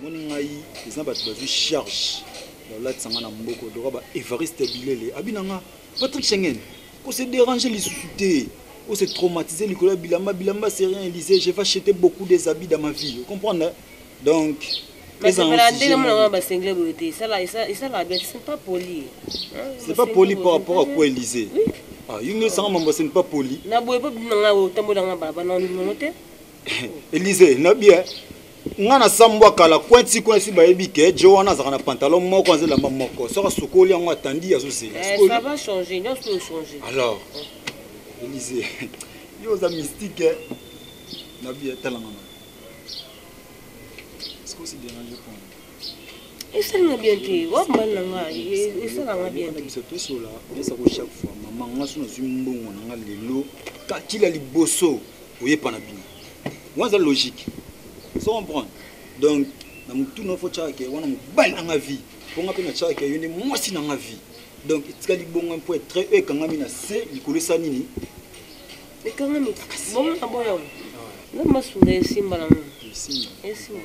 omoni ngai eza bato bazwi charge ya kolatisa ngai na mboko doka ba evariste bilele abi na nga patrick schengen kose dérange lisusu te ose traumatise likolo ya bilamba bilamba c'est rien elise je va chete beaucoup des habits dans ma vie ocomprendre donc basengele boye te esalaka bien c'est pas poli c'est pas poli par rapport à quoi elise yo nde esanga mambo c'est pas poli na boye po bino nanga otambolanga balabala na ndimono te Elise, nabi eh. nga na sambwa kala kwenti kwenti bayebi ke jo wana azalaka na pantalon moko aza elamba moko soki asukoli yango atandi azozela eh, alors elise yo oza mystique eh. nabi etalangana eh, est ce que osi dérange pona esali nga bien te wa mobali na nga esala nga bien te biso tosola esa ko chaque fois mama nga so nazwi mbongo na nga lelo kakila liboso oyepa na bino wana eza logique so comprendre donc na motuna ofo tyaka ke wana mobali na nga vie mpo nga mpe natyaka ke yo nde mwasi na nga vie donc etikali bongo mpo etre oyo ekangami na se likolo esa nini ekangami bongo na boya nga masunga esimba na nga esimba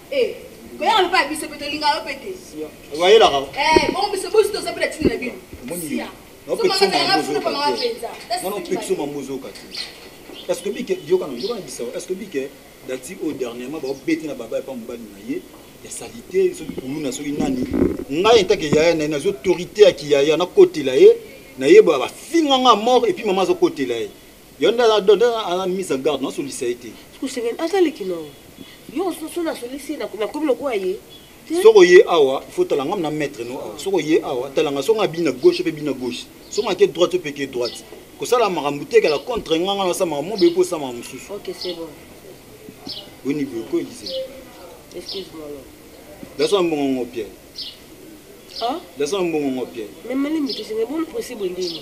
Eh, koyaka mpe ya biso mpe tolingaka yo mpe te. Wayelaka. Eh, bongo biso bosi toza mpe na ntina na bino. Sia. Mwana opekisa mambo ozoyoka te. Est-ce que bike yokana yokana bisawa. Est-ce que bike dati oyo dernièrement baobeti na baba epa mobali na ye ya salite soki kuluna soki nani ngai entake yaya na ye nazo autorité ya kiyaya nakotela ye nayeba bafinga nga mort epuis mama azokotela ye Yo nde aza nde aza mise en garde, nasolisa ye te. Kusengeli aza leki na yo. Yo soso nasolisi ye nakomi lokola ye. Soko ye awa, il faut tala ngam na maître no awa. Soko ye awa, tala nga soko abina gauche pe bina gauche. Soko ake droite pe ke droite. Kosala makambo te kala contre nga nga nasala makambo boye po sama mosusu. OK, c'est bon. Boni boye ko Elise. Excuse-moi. Laisse un bon ngo Pierre. Ah? Laisse un bon ngo Pierre. Mais malimbi tusenge bon possible ndini.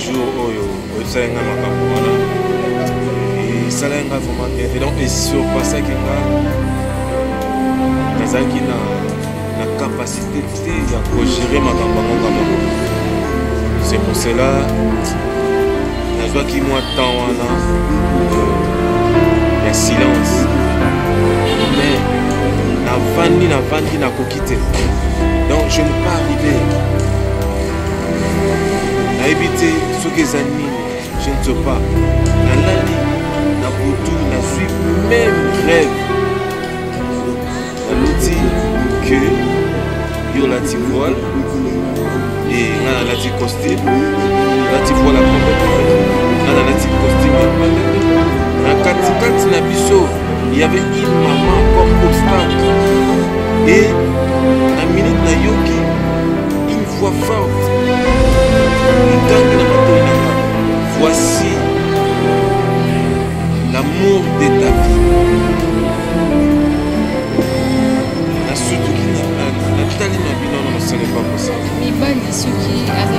jour oyo oyebisaki ngai makambo wana esalaki ngai vraiment bien te donc esurpassaki nga nazalaki na na capacité te ya kogere makambo yango nga moko c'est pour cela nazwaki mwa temps wana ya silence mais navandi navandi nakoki te donc je ne pas arriver nayebi te soki eza nini je ne sais pas nalali na butu nazwi meme rêve naluti que yo olati voile e nga nalati costume nalati voile ya pembe nga nalati costume ya pembe na katikati na biso il y avait une maman comme obstacle et na minute nayoki Une voix forte. Voici l'amour de ta vie. nasutuki natali na bino na mosala epa kosala mibali soki aza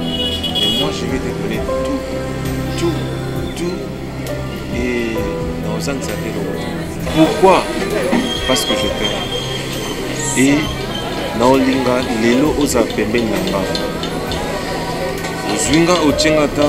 Et moi, je vais te donner tout, tout, tout. Et dans un ça Pourquoi Parce que je t'aime. Et dans Olinga, Lelo oza pembeni na nga. Ozwi nga otie nga ta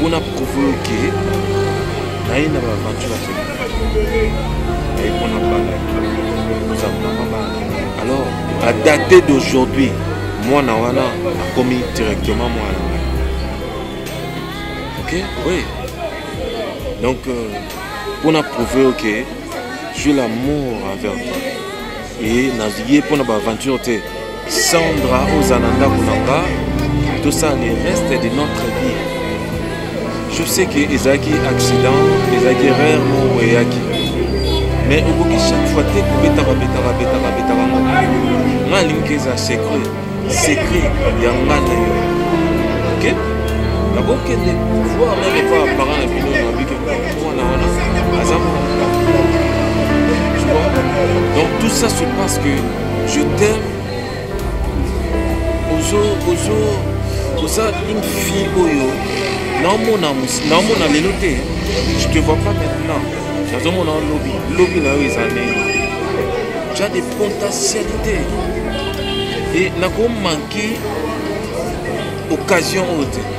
Pona prouve yo ke naye na baaventure te naye pona bana ozamama bana alors à date d'aujourd'hui mwana wana akomi directement mwana ngai ok oui donc euh, pona prouve yo ke j'ai l'amour envers toi et naye pona baaventure te Sandra oza na ndako na nga tosala le reste de notre vie je sais que ezalaki accident ezalaki rare moko eyaki mais okoki chaque fois te kobetaka betaka betaka betaka ngo nga alingi eza secret secret ya nga na yo ok nakokende voir meme epa parent na bino na bike mwana wana aza mwana donc tout ça se passe que Je t'aime. Ozo, ozo, oza une fille oyo. Naomona, naomona lelo te. Je te vois pas maintenant. Nazomona lobi, lobi na yo eza ndenge. Tu as des potentialités. Et nako manquer occasion oyo te.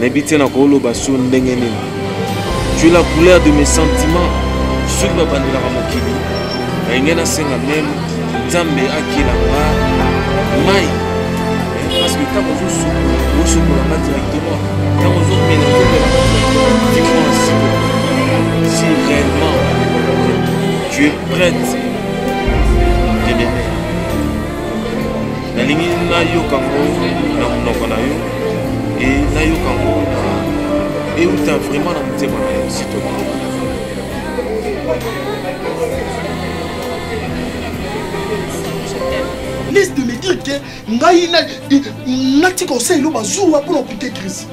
nayebi te nakoloba sur ndenge nini tu es la couleur de mes sentiments soki babandelaka mokili nalingi nasenga meme nzambe akela nga mai eh, parce que ntango ozosokola osokola nga directement ntango ozomela ozomela tima siko si réellement tu es prête te demeure nalingi nayoka ngo na monoko na yo et nayoka yango na euta vraiment na motema na yo sitoki liste de me dire que ngai natika osala elo bazuwa mpo na opike crise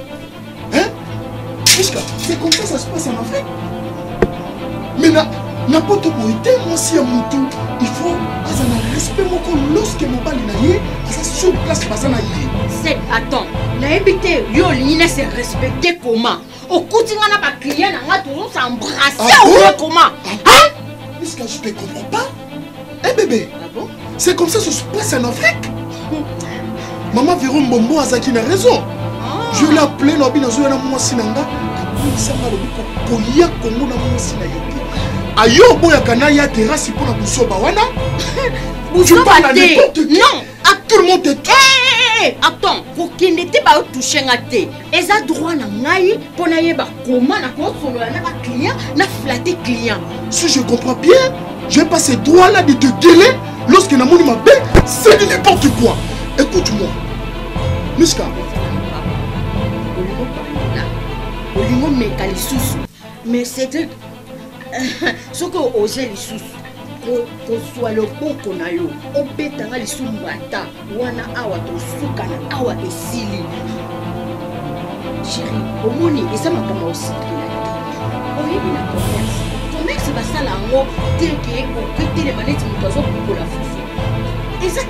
C'est comme ça ça se passe en Afrique. Mais na na poto boye te mwasi ya motu il faut aza na respect moko lorsque mobali na ye aza sur place baza na ye sep attend nayebi te yo olingi na se respecte comment okuti nga na baclient na nga tozo s'embrasse oye comment iska je te comprends pas Eh bébé, ah bon? c'est comme ça ça se passe en Afrique. Maman Véro Mbombo azaki na raison. Ah. Je l'ai appelé lobi na zoya na mwasi na nga. Akomisa nga lobi koya Kongo na mwasi na yoki. Ayo boya kana ya terrasse pour na busoba wana. Busoba te. Non. Ah, tout le monde te touche. Hey, hey, hey, attends, kokende te baotouche nga te eza droit na ngai mpo nayeba koma na kosolola na baclient na flate client si je comprends bien je vais passer droit là de te gueler lorsque namoni mabe c'est du n'importe quoi écoute moi miska olingo meka lisusu mais cedric soki oze lisusu kozwa loboko na yo obeta nga lisusu mbata wana awa tosuka na awa esili sheri omoni eza makambo osikila te oyebi na commerce commerce basala yango teke oketelema neti moto azokukola fufu eza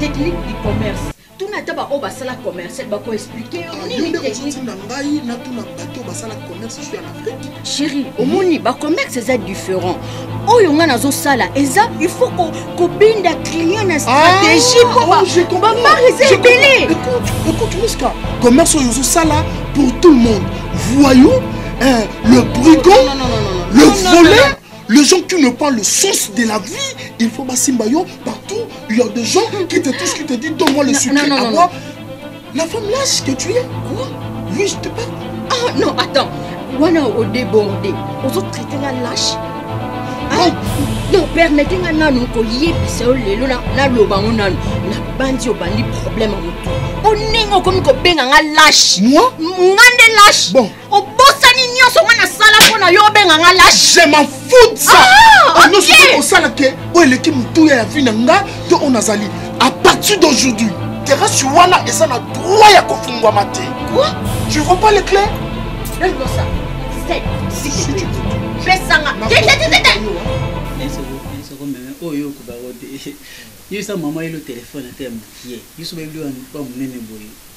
technique du commerce tuna ata baoyo basala commercial bako explike yo ah, nini technique na ngai natuna bato basala commerce sur l'afrique chéri omoni bacommerce eza différent oyo ngai nazosala eza il faut kobinda client na stratégie ah, mpo bamar eza ebele écoute miska commerce oyo ozosala pour tout le monde voyou eh, le brigand le volet Les gens qui ne pas le sens de la vie, il faut basimba yo partout. Il y a des gens qui te touchent, qui te disent donne-moi le sucre non, non, à boire. La femme lâche que tu es, quoi Oui, je te parle. Ah non, attends. Wana au débordé. Aux autres traités la lâche. Ah, non, permettez nga nanu ko yebisa yo lelo na na loba ngo nanu na bandi obandi problème ya motu onenge okomi kobenga nga lâche moi nga nde lâche bon obosani nyonso nga nasala mpo na yo obenga nga lâche je m'en fous ça ah, nyonso okoki kosala ke oyo eleki motuya ya vie na nga to oyo nazali à partir d'aujourd'hui terasi wana eza na droit ya kofungwama te tu vois pas les clés pesanga oyo okobako te yo esa mama yelo telefone ata ya mokie yo soki oyebi wa monene boye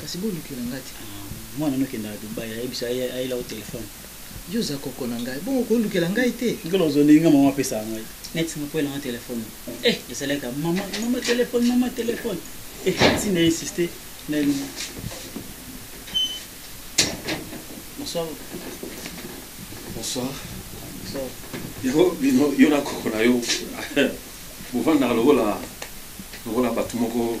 kasi bolukela nga ti mwana no kendaka dubai ayebisa ayela o telefone yo oza koko na ngai bongo kolukela ngai te nkolo ozolingi nga mama apesaka ngai neti moko elanga telefone eh ezalaka mama mama telefone mama telefone eh si na insiste na bonsoir bonsoir bonsoir yango bino yo na koko na yo bovandaka lokola lokola bato moko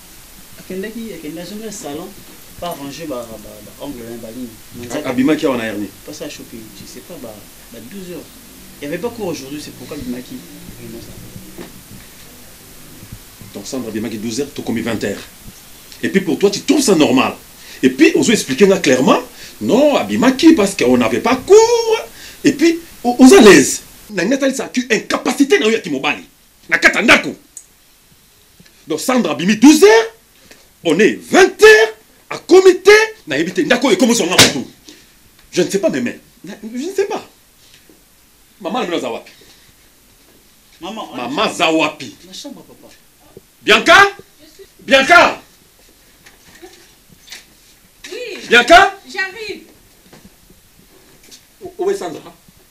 akendaki akende azongi na salon pa ranger ba ba ba ongle na ba nini na nzaki abimaki awa na herni pas ça choqué je sais pas ba ba 12 heures il y avait pas cours aujourd'hui c'est pourquoi abimaki vraiment ça donc sandra abimaki 12 heures tokomi 20 heures et puis pour toi tu trouves ça normal et puis ozo expliquer nga clairement non abimaki parce qu'on n'avait pas cours et puis o- oza à l'aise na ngai atalisa tu incapacité na yo ya kimobali na kati ya ndako donc sandra abimi 12 heures on est 20 heures akomi te nayebi te ndako oyo ekomi zonga motu je ne sais pas meme je ne sais pas mama na bino aza wapi mama aza wapi bianca bianca bianca j'arrive owe sandra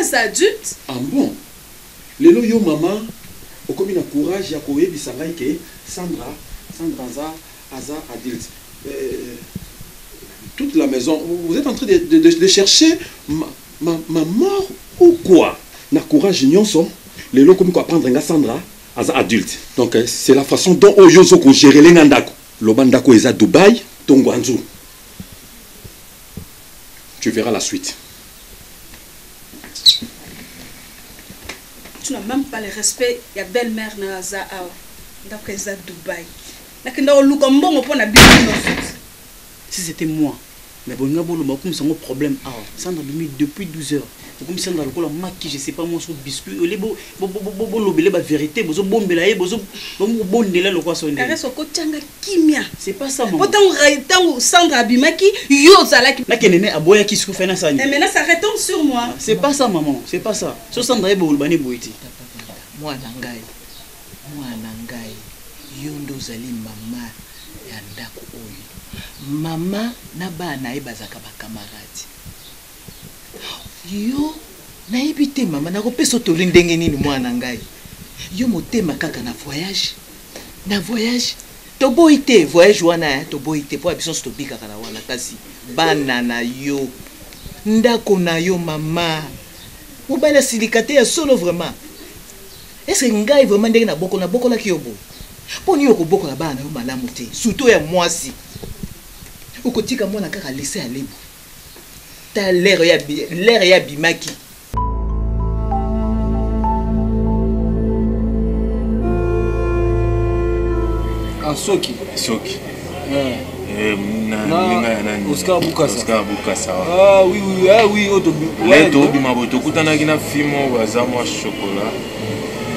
Aza adulte. Ah bon! Lelo yo maman okomi na courage ya ko yebisa ngai ke Sandra, Sandra aza, aza adulte. Euh, toute la maison vous etes en train de, de, de chercher ma, ma, ma mort ou quoi? Na courage nionso lelo okomi ko apprendre nga Sandra aza adulte. Donc euh, c'est la façon dont oyo ozo ko gerer nga ndako. Loba ndako eza Dubaï to Ngwanzu. Tu verras la suite. Tu n'as même pas le respect ya belle-mère na za awa. Ndako eza Dubaï. Nakenda oluka mbongo mpo na bino Si c'était moi, mais bon, nga bolo makumisa ngo problème awa. Sandra bimi depuis 12 heures. ekomi sanga lokola maki je sais pas moi sur biscuit ole bo bo bo bo bo lobele ba vérité bozo bombela ye bozo bomo bondela lokwa sonde Caresse okotianga kimia. c'est pas ça maman Pourtant, tango Sandra abimaki, yo ozalaki. na kenene aboya ki sku fena sani Eh, maintenant, ça retombe sur moi. c'est pas ça maman c'est pas ça so sandra ye boloba ne boyiti mwana ngai mwana ngai yo nde ozali mama ya ndako oyo mama na bana na ye bazalaka bakamarade yo nayebi te mama nakopesa yo toli ndenge nini mwana na ngai yo motema kaka na voyage na voyage toboyi te voyage wana eh, toboyi te mpo ya biso nso tobikaka na wana kasi bana na yo ndako na yo mama mobali asilika te ya solo vraiment ese ngai vraiment ndenge nabokola nabokolaki yo boye mpo nini okobokola bana na yo malamu te surtout ya mwasi okotika mwana kaka lese ya lebu ta lere ya lere ya bimaki ah, soki soki eh. Eh, oscar bukasa ah, eh, tobima boye tokutanaki na fi moko aza mwa chokola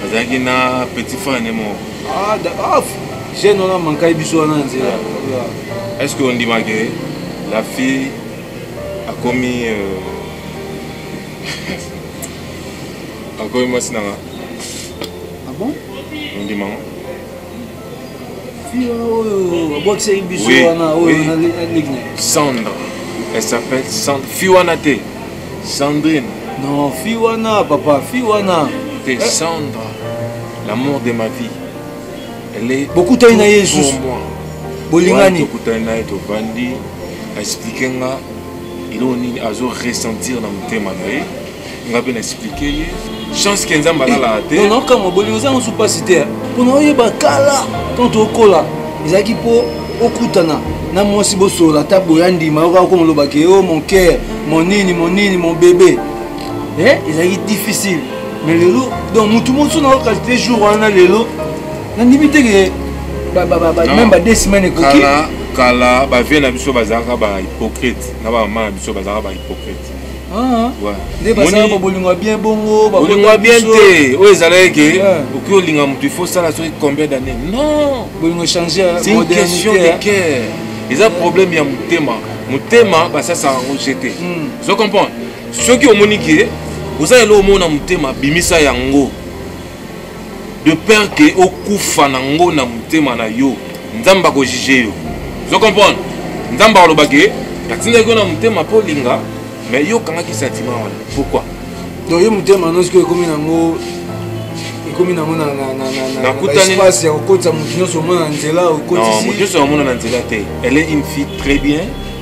azalaki na petit frane moko ah, jeune wana mankai biso wana nzela Est ce que ondima que la fille akomi euh... akomi mwasi nanga ah bon ondima ngo abwakisaki biso wana oyo nalekina sandre elle s'appelle sandre fi wana te sandrine non fi wana papa fi wana te eh. sandre l'amour de ma vie bokutani na ye lisusu bolingani tokutani na ye tovandi aexplike nga eloko nini azo ressentir na motema na ye nga mpe na explike ye chance ke nzambe alalaka te naokamwa bolingo eza mosu mpasi te mpona oyeba kala ntango tokola ezalaki mpo okutana na mwasi bosolola ata boya ndima oka okoma olobaki o oh, mon cœur mon nini mon nini mon bebe eh, ezalaki difficile mais lelo donc motu mosusu na okalite jour wana lelo nandimi te ke meme ba deux semaine ekoki kala bavie na biso bazalaka ba hypocrite na bamama na biso bazalaka ba hypocrite ah, ah. nde bazalaka babolingo ya bien bongo bolingo ya bien te oyo ezalaki ke ah. okoki olinga motu il faut sala soki combien d'année non bolingo echange c'est une question de cœur eza problème ya motema motema basasaka yango jete hmm. ozo comprendre soki omoni ke oza eloko moko na motema bimisa yango de peur ke okufa na ngo na motema na yo nzambe akojuge yo ozo comprendre nzambe akoloba ke natindaki yo na motema mpo olinga mais yo okangaki sentiment wana pourquoi donc yo motema nyonso oyo ekomi nango ekomi nango naespace ya kokotisa moto nyonso omona na nzela okotisi moto nyonso namona na nzela te elle est une fille très bien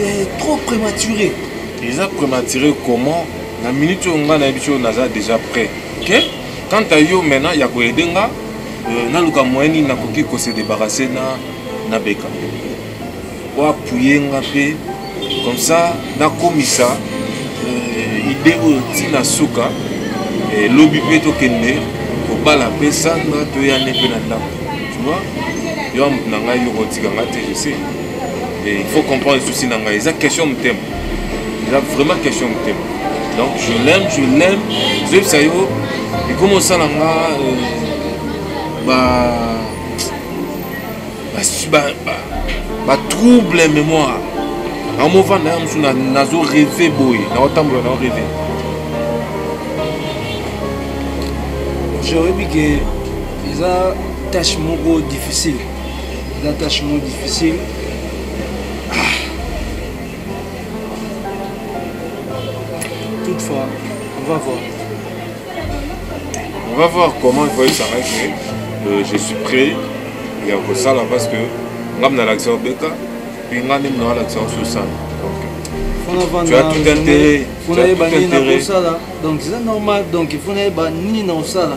eh, trop prématuré eza prématuré comment na minute oyo ngai nayebi oyo naza déjà prêt ok quant à yo maintenant ya koyede nga euh, naluka moyen nini nakoki kose débarrasse na na beka oapuye nga mpe comme ça nakomisa euh, idée oyo ntina suka eh, lobi mpe tokende kobala mpe sandra toyane mpe na ndako tu vois yo amoto na ngai yo kotika ngai te je sais Et il faut comprendre souci nanga eza question motema eza vraiment question motema donc je l'aime je l'aime zoyebisa yo ekomi osala nga euh, ba batrouble ba, ba, mémoire nakomofanda ya mosusu nazo reve boye nakotambola nao reve je oyebi ke eza tâche moko difficile eza tâche mo difficile toutefois on va voir on va voir comment voye sara que euh, je suis prêt ya kosala parce que nga mna lakisa obeka mpe nga nde mna walakisa ososala tu as tout intérêt tu as tout intérêt donc c'est normal donc il faut nayeba nini na osala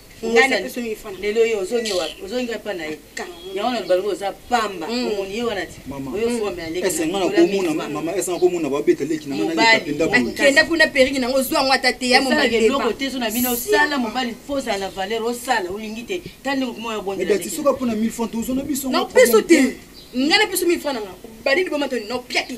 ngai na peso mingi fana lelo yo ozongi wapi ozongi ngai mpa na ye yango na lobaloba oza pamba mm. omoni ye wana ti oyo fome alekiesenga komona babeta leki nangakenda kuna periki nango ozwa yango ata te ya momaeloko te zo na bino osala mobali fo ozala na valeur osala olingi te ta ndenge komona obondelatisoka mpo na mille franc tozona biso na peso te ngai na peso mille franc nanga badini bomatoni na opia te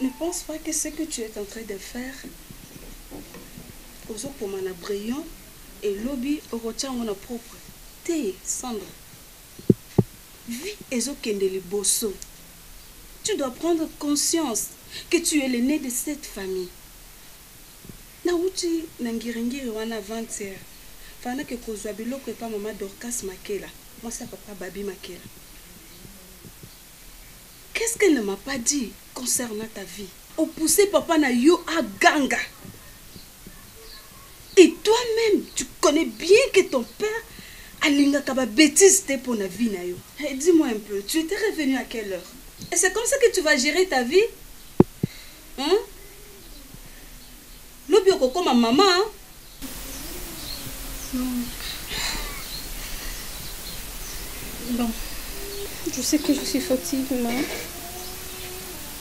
Ne pense pas que ce que tu es en train de faire ozokoma na brillant elobi okotya yango na propre te sandra vie ezokende liboso tu dois prendre conscience que tu es le ne de cette famille na wuti na ngiri ngiri wana 20 heure fana ke kozua biloko epa mama dorcas makela mwasi ya papa babi makela qu'est ce qu'elle ne m'a pas dit concernant ta vie opousse papa na yo aganga Et toi meme tu connais bien que ton père alingaka ba betises te pona vie na yo. Hey, dis moi un peu, tu etais revenu à quelle heure? Et c'est comme ça que tu vas gerer ta vie? Hein? Lobi okokoma maman hein? Bon, je sais que je suis fatiguée, mais...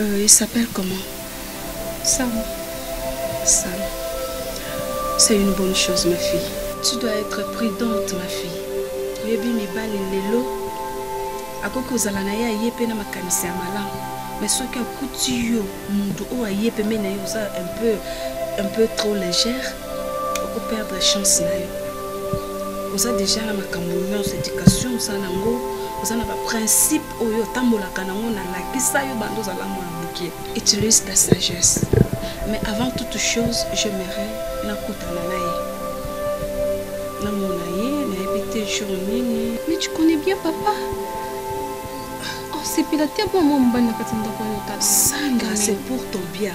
Euh, il s'appelle comment Sam. Sam. C'est une bonne chose, ma fille. Tu dois être prudente, ma fille. oyebi mibali lelo akoki kozala na ye aye mpe na makanisi ya malamu mais soki akuti yo moto oyo aye pembe na ye oza un peu un peu trop légère okoperdre chance na yo oza déjà na makambo nyonso éducation oza nango oza na baprincipe oyo otambolaka nango nalakisa yo bando ozala mwana moke utilise ta sagesse mais avant toute chose j'aimerais nakutana na ye namona ye nayebi te jour nini mais tu connais bien papa osepela te bwa mwa mobali na kati ya ndako oyo otasanga c'est pour ton bien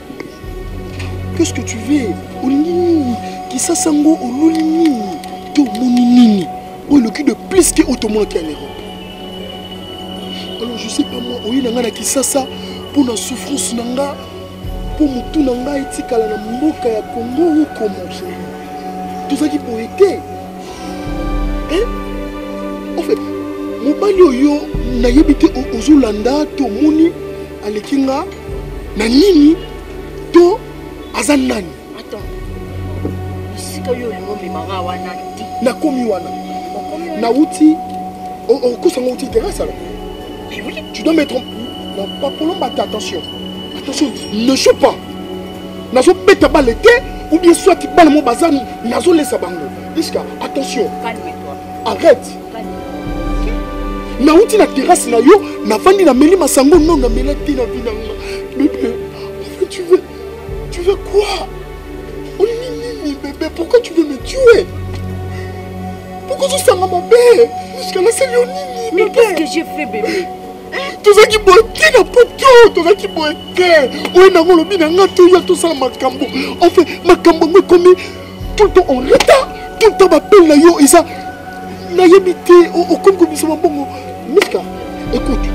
Qu'est-ce que tu veux olingi nini kisasa yango oluli nini to omoni nini oyo eloki de plus ke oyo tomonaki ya l'europe alors je sais pas moi oye na ngai na kisasa mpo na souffrance na nga mpo motu na ngai etikala na mboka ya congo okomo tozalaki boye te en fait mobali oyo nayebi te ozolanda to omoni aleki nga na nini to aza nani esika yo olingi omemanga wana te nakomi wana nauti okosa ngo outi terrasse alors tu dois mettre non pas polomba te attention attention ne joue pas nazobeta bale te ou bien soit bana mo baza nazolesa bango iska attention arrête nauti na terase na yo nafandi nameli masango no namela te na vi nanga bebe enfin tu veux tu veux quoi olingi nini bebe pourquoi tu veux me tuer pourquoi ozosanga mabe jusqu'à nasali yo nini mais qu'est-ce que j'ai fait bebe tozalaki boye te na poto tozalaki boye te oyo nango olobi na ngai toya tosala makambo enfin makambo yango ekomi tout le temps en retard tout le temps bapele na yo eza nayebi te okomi kobimisa mabongo mika écoute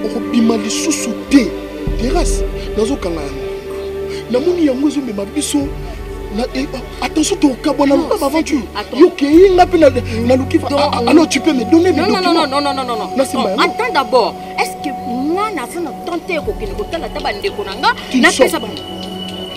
okobima lisusu te terrasse nazokanga yango namoni yango ezomema biso eh, ah, attention tokabwana loba baventure yokei nga mpe naluki alors tu peux me donner mes documents d'abord est ce que nga naza na temps te kokende kotala ata bandeko na nga napesa bango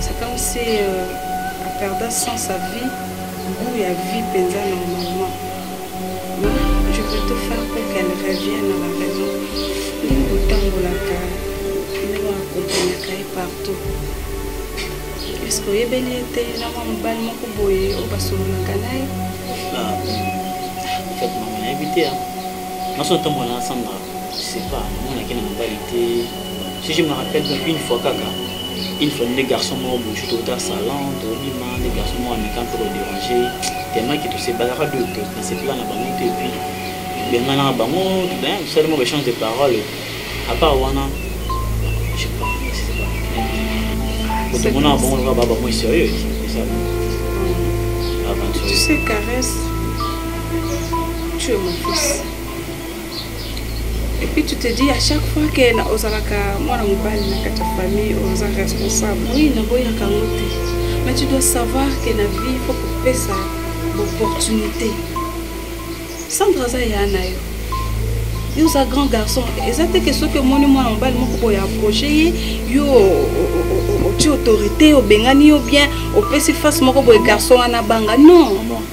C'est comme si euh, a perda sans sa vie, goût ya vie penza normalement. Mais je peux tout faire pour qu'elle revienne à la raison. Ndenge kotambolaka, ndenge akomprenaka ye partout. Est-ce que oyebeli ye te na mwa mobali moko boye oyo basololaka na ye? Ah, en fait, maman, nayebi te. Naso natambola na Sandra, je sais pas, namonaki na mobali te. si je me rappelle bien une fois kaka une fois nde garçon moko boju tokota salon tobima nde garçon moko ameka mpe koderange tellement ke tosebalaka de te nasepela na bango te epuis benganaka bango tosali moko échange de parole à part wana je pas tomonaka bango lokola baba moi sérieux eza aventurier tu sais caresse tu es mon fils Et puis tu te dis à chaque fois que na ozalaka mwana mobali na kati ya famille oza responsable. Oui, na boya kango te. Mais tu dois savoir que la vie faut kopesa opportunité. Sandra aza ya na yo. Yo oza grand garçon. Eza te que soki omoni mwana mobali moko boye approche ye yo otie autorité obengani yo bien opesi face moko boye garçon wana banga non.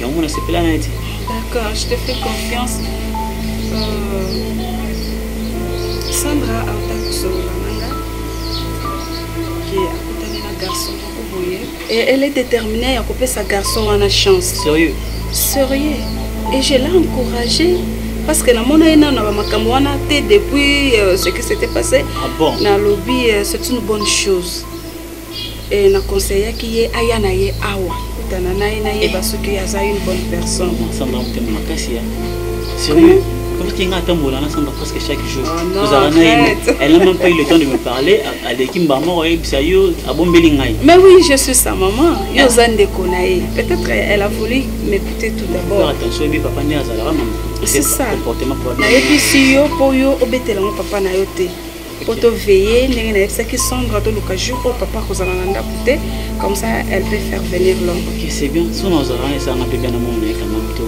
yango na sepela na ti d'accord je te fais confiance euh, sandra auta kosolola nanga ke akutani na garçon moko boye et elle est déterminée ya kopesa garçon wana chance sérieux sérieux et je l'ai encouragé parce que namona ye nano na bamakambo wana te depuis euh, ce qui s'était passé ah bon. nalobi euh, c'est une bonne chose e, na conseillaki ye aya na ye awa kutana na ye nayeba soki aza une bonne personne samba motema makasi ya sérieux oyoki nga atambola na samba presque chaque jour oh ozala na ye elle n'a même pas eu le temps de me parler aleki mbala moko ayebisa yo abombeli ngai mais oui je suis sa maman yo oza ndeko na ye peut-être elle a voulu m'écouter tout d'abord attention ebi papa nde azalaka mama c'est ça comportement nayebi si yo mpo yo obetela ngo papa na yo te mpo toveille ndenge nayebisaki sandra toluka jour oyo papa akozala na ndako te comme ça elle peut faire venir l'homme ok c'est bien so nazala wana esanga mpe bia na mona ye kamam to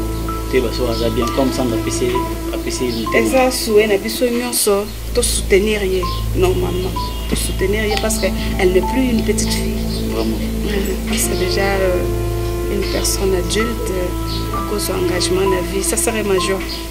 toyeba so aza bien comme sandra apesi apesi eza souwe na biso nyonso tosoutenir ye normalement tosoutenir ye parce que elle n'est plus une petite fille vraiment parce que déjà euh, une personne adulte akozwa engagement na vie ça serait major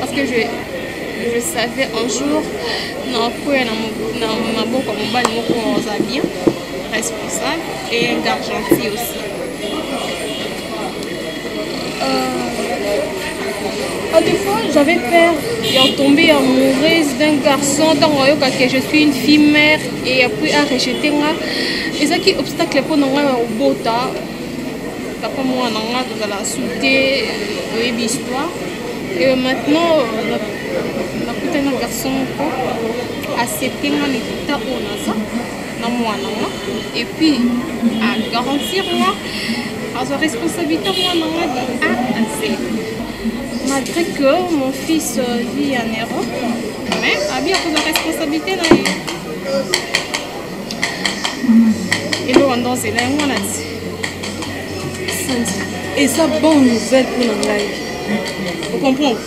Parce que je, je savais un jour nakoya na maboko ya mobali moko oza bien responsable et un gars gentil aussi euh, à des fois j'avais peur de tomber amoureuse d'un garçon ntango ayoka que je suis une fille mère et après a rejete nga ezalaki obstacle mpo na ngai ya kobota papa mwana nga tozala su te oyebi histoire et maintenant nakutani na garçon moko accepte nga na ekita oyo naza na mwana nga et puis agarantir nga azwa responsabilité mwana nga de a à z malgré que mon fils vit en europe mais abi akozwa responsabilité na ye eloko ndo nzela yango wana ti eza bonne nouvelle mpo na ngai ocomprendre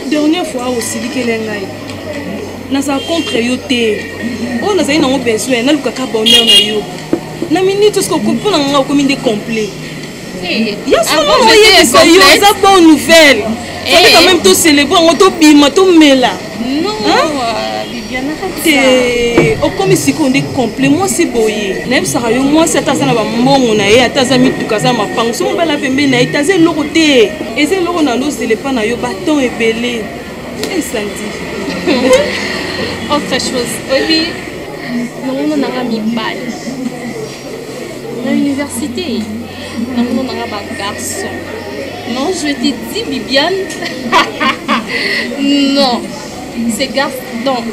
dernière fois osilikele ngai nazala contre yo te oyo nazali nango besoin nalukaka bonheur na yo na minute osikopona ngai okomi nde complet ya solo oyebisa yo eza bonne nouvelle fallait quand même tocelebre yango tobima tomela te okomi sikoyo nde complet mwasi boye nayebisaka yo mwasi ata aza na bambongo na ye ata aza mituka aza mapango so mobala pembeni na ye te aza eloko te eza eloko na lozela epa na yo baton ebele esandi autre chose oyebi longono nanga mibali Na université, na mona na nga ba garçon. Non, je te dis Bibiane. non, c'est garçon.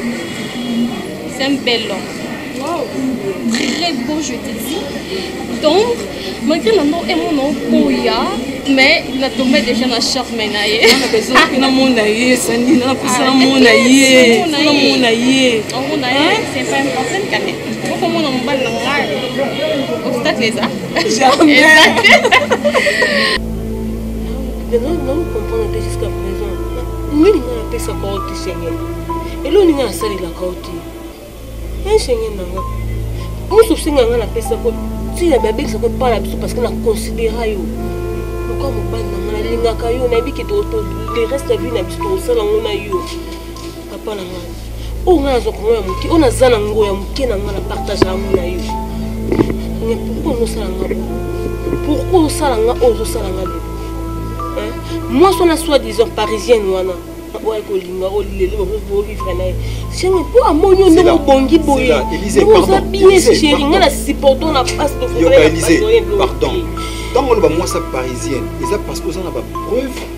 C'est un bel homme. Wow. Très beau, je te dis. Donc, malgré la mort et mon okoya, mais na tombé déjà na charme na ye. Na besoin que na mona ye, sani na kusa na mona ye. Na mona ye. On mona ye, c'est pas important quand même. okomona mobali na ngai obstacle eza naokomprendre te jusqu'à présent nini ngai napesaka yo te seigneur elo nini nasalelaka yo te e seigneur na nga mosu osenga ngai napesako ntina babekisaka epai na biso parce que naconsidera yo lokola mobali na ngai nalingaka yo nayebi ke le reste ya vie na biso tokosala ngo na yo papa na ngai oyo ngai nazwa kongo ya moke oyo naza na ngo ya moke na ngai na partage yango na yo mais pourkoi ozosala nga pourkoi osala nga oyo ozosala nga lelo mwasi wana soit disant parisienne wana oyo ekolinga oyo lelo bovivre na ye shenge mpo amoni yo ndenge obongi boye oza bien sheri ngai na supporto na pasi tokoyoka elise pardon ntango oloba mwasi ya parisienne eza parce que oza na bapreuve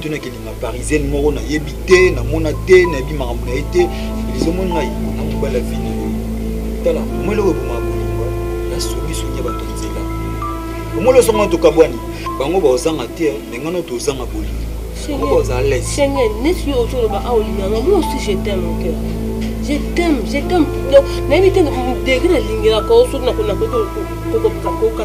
tuna kelinga parisienne moko nayebi te namona te nayebi makambo na ye te elizomoni ngai na mobali ya vino tala omoi eloko ebomaka bolingo nasobisoki ya bato ya nzela omoi losongo tokabwani bango baozanga te me ngai no tozanga bolingo bango baoza lese seigneur neti yo ozoloba awa olinganga moi aussi je t'aime mon cœur je t'aime je t'aime donc nayebi te degré nalingelaka yo soki nakokoka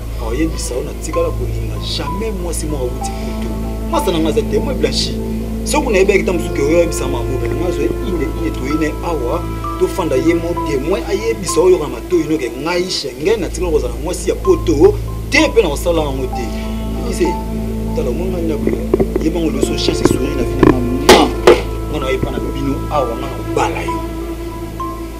oyebisa yo natikala kolinga jamais mwasi moko awuti kutu mwasa na ngai aza temoin blanchi soki nayebaki ntango mosusu oyo oyebisa mango me nanga azwa ine ine toyine awa tofanda ye mo temoin ayebisa oyo yoka matoi noke ngai shengen natikala kozala mwasi ya poto te mpe na kosala yango te ise tala omona ndako ye bango nyonso chance esongi na finama ma nga na oyepa na bino awa nga na kobala yo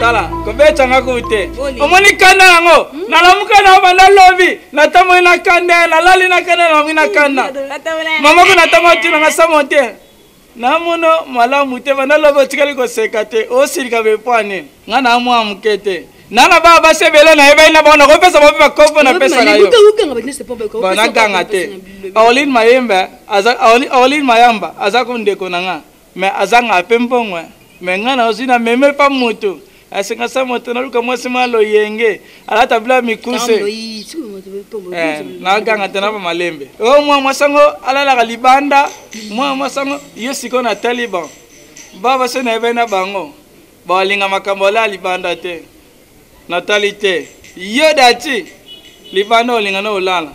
tala kobetanga kute omoni kanda yango hmm? nalamuka na banda lobi natamoi na kanda nalali na kanda nalamui na kanda mamako natango atunanga samo te na mono malamu te banda lobi otikali koseka te osilika bepwane ngai na mwa moke te nana baa basi ebele nayebaki na bango nakopesa bobi bakopo napesaka yo banaganga te aoline mayembe aoline mayamba aza ko ndeko na ngai Mais azangaka pe mbongo hein. Mais nga na ozwi na meme pa moto asenga sa moto naluka mwasi mwa loyenge alata bila mikuse eh, naganga te na ba malembe o oh, mwa mwasi yango alalaka libanda mwa mwasi yango yo sikoyo na taliban baba so na ye bai na bango Balinga makambo alaa libanda te. Natali te. Yo dati libanda olinga na olala.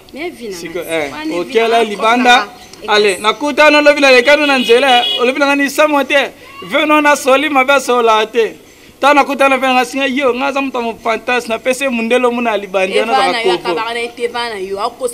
Siko eh okela libanda. Ale nakuta no lobi na lekano na nzela olobi na ngani samo te. Veno na soli mabe sola te. ntango nakutana mpe nanga singa yo ngai aza moto ya mopantas napesi ye mondelo mona ya libandi wana bakoko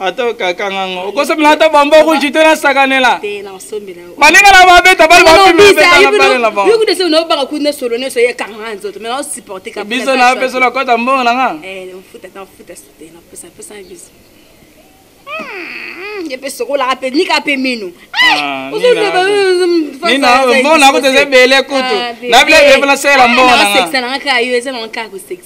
ata okakanga ngo okosomela ata bambo rouge te nasakanela baninga na babeta bale bapimebetanabalenabangobiso na biso nakota mbongo na nga epesokolaka mpe nika mpe mino mbongo nakuta eza ebele kutu na bile ebele mpo nasalela mbongo na nga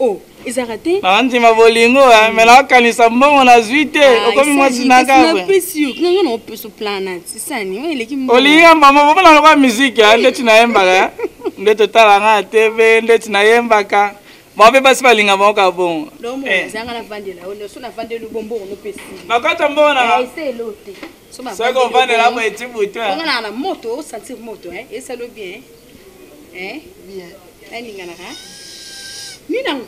Oh, ezalaka te naandima bolingo eh, me naokanisa mbongo nazwi te ah, okomi mwasi nakaolinga mbamo bomona lokola miziki eh, ndeti nayembaka eh. nde totala nga tv ndeti nayembaka bango mpe basi balinga bango ka bongo nakota mbongo nanga soki ovandela boye ti butu Eh, bien. Eh, ninganaka. Ninango.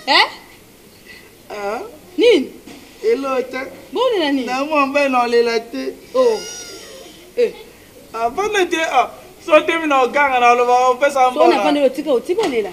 Eh? Ah, Nini? elota Bolela nini? na mwa mbai na olela te Oh. Eh, avanda te ah, so temi na oganga na oloba opesa so na mbona fandelo tika otika olela.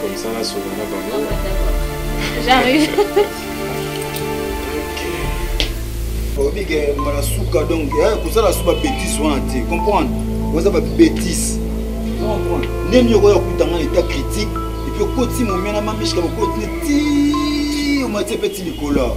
Comme ça, là, sur le mot, bah, non. J'arrive. oyebi ke mbala suka donc eh, kozala su babétise wana te comprendre oza babétise comprendre nde nini okoya kokuta ngai état critique epuis okoti momia na mamishka bokoti ne ti omatie mpe ti likolo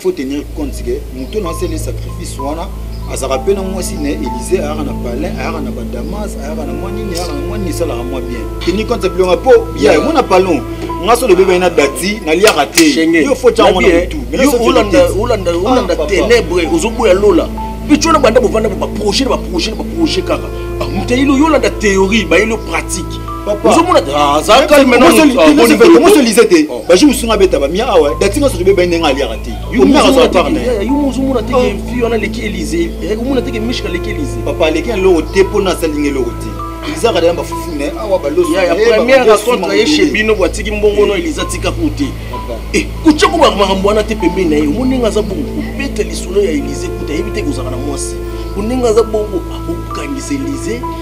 faut tenir compte que moto na asali sacrifice wana azalaka mpe na mwasi na ye élise ayaka na palin ayaka na badamas ayaka na mwa nini ayaka na mwa nini esalaka mwa bien teni konte bilonga mpo ya yango na palon nga so lobebani na dati naliaka te yo fo tyango na motu olanda ténèbre ozoboya lola mpe tyo na banda bovanda baprojet na baprojet na baprojet kaka ah, moteyilo yo olanda théorie bayeli yo pratique ozomona te ah, aza calmemoso lise te oh. bajour mosusu nga abeta bamia awa dati nga soki beba ndenge aliaka te ozomona teke oh. fi wana aleki elise eh, omona teke mishka aleki elise papa aleki eloko te mpo na asalinga eloko te eliza akadela bafufu ne awa balospremière rencontre ye chez bino bwatiki mbongo no eliza tika ko te eh, kotya ko makambo wana te pembeni na ye omoni ndenge aza bongo kobeta lisolo ya elize kuta ayebi te kozalaka na mwasi ondenge aza bongo akokangisa elize